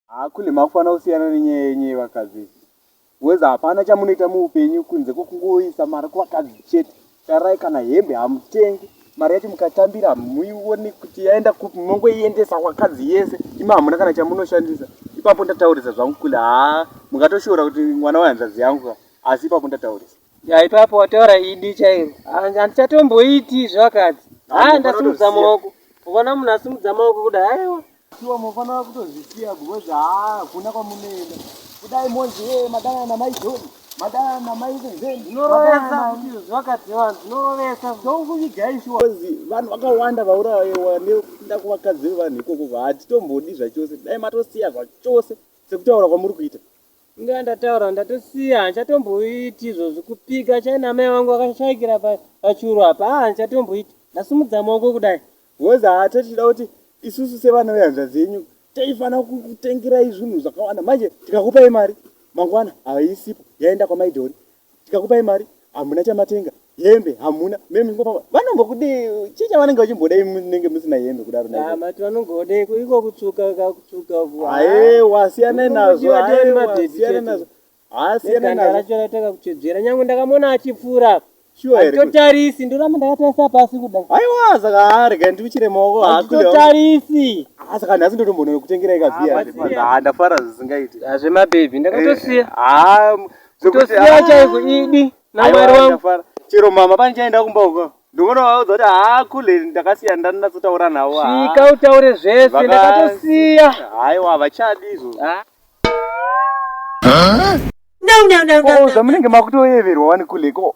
Haa kule makufana usiyana nenyaya yenyu yevakadzi weza hapana chamunoita muupenyu kunze kwekungoisa mari kuvakadzi chete tarai kana hembe hamutengi mari yacho mukatambira muione kuti yaenda kupi munongoiendesa vakadzi yese ima hamuna kana chamunoshandisa ipapo ndataurisa zvangu kule haa mukatoshoora kuti mwana wehanzvadzi yangu asi ipapo ndataurisa Ya ipapo wataura idi chairo. Handichatomboiti zvakadzi. Ha ndasimudza maoko. Ukaona munhu asimudza maoko kuda haiwa. Sure mofana kutozvisiya because ha kuna kwamunoenda. Kudai monzi hey madana na mai John. Madana na mai Zen. Ndinorovesa kuti zvakadzi vanhu ndinorovesa. Ndokuvigai sure. Because vanhu vakawanda vaurayewa nekuda kuvakadzi vevanhu ikoko hatitombodi zvachose. Dai matosiya zvachose sekutaura kwamuri kuita. Inga yandataura ndatosiya handichatomboiti izvozvi kupika chai namai vangu vakashaikira pachuru apa aa handichatomboiti ndasimudza maoko kudai wozi haa totida kuti isusu sevana vehanzvadzi yenyu taifanira kukutengerai zvinhu zvakawanda manje tikakupai mari mangwana haisipo yaenda kwamaidhori tikakupai mari hamuna chamatenga hembe hamuna mimi ngopamba vanombokudii chii chavanenge vachimboda imi munenge musina hembe kudaro na mati vanongoodei iko kutsvuka kakutsvuka aewa siyanai nazvo siyanai nazvo haasiyanaracho rataka kutsvedzera nyange ndakamona achipfuura atotarisi ndoramba ndakatarisa pasi kuda aiwa saka haarega ndiuchire maoko haatotarisi asaka nhasi ndotombonokutengerai kaviya ndafara zvisingaiti zvemabhebhi ndakatosiya eh, Kutosiya chaiko idi namwari wangu. Chero mama pani chaenda kumba uko. Ndingoona vaudza kuti haa kule ndakasiya ndanatsotaura navo. Svika utaure zvese ndakatosiya. Haiwa havachadi izvo. Ndau ndau ndau ndau. Ko zvamunenge makutoyeverwa wani kule ko.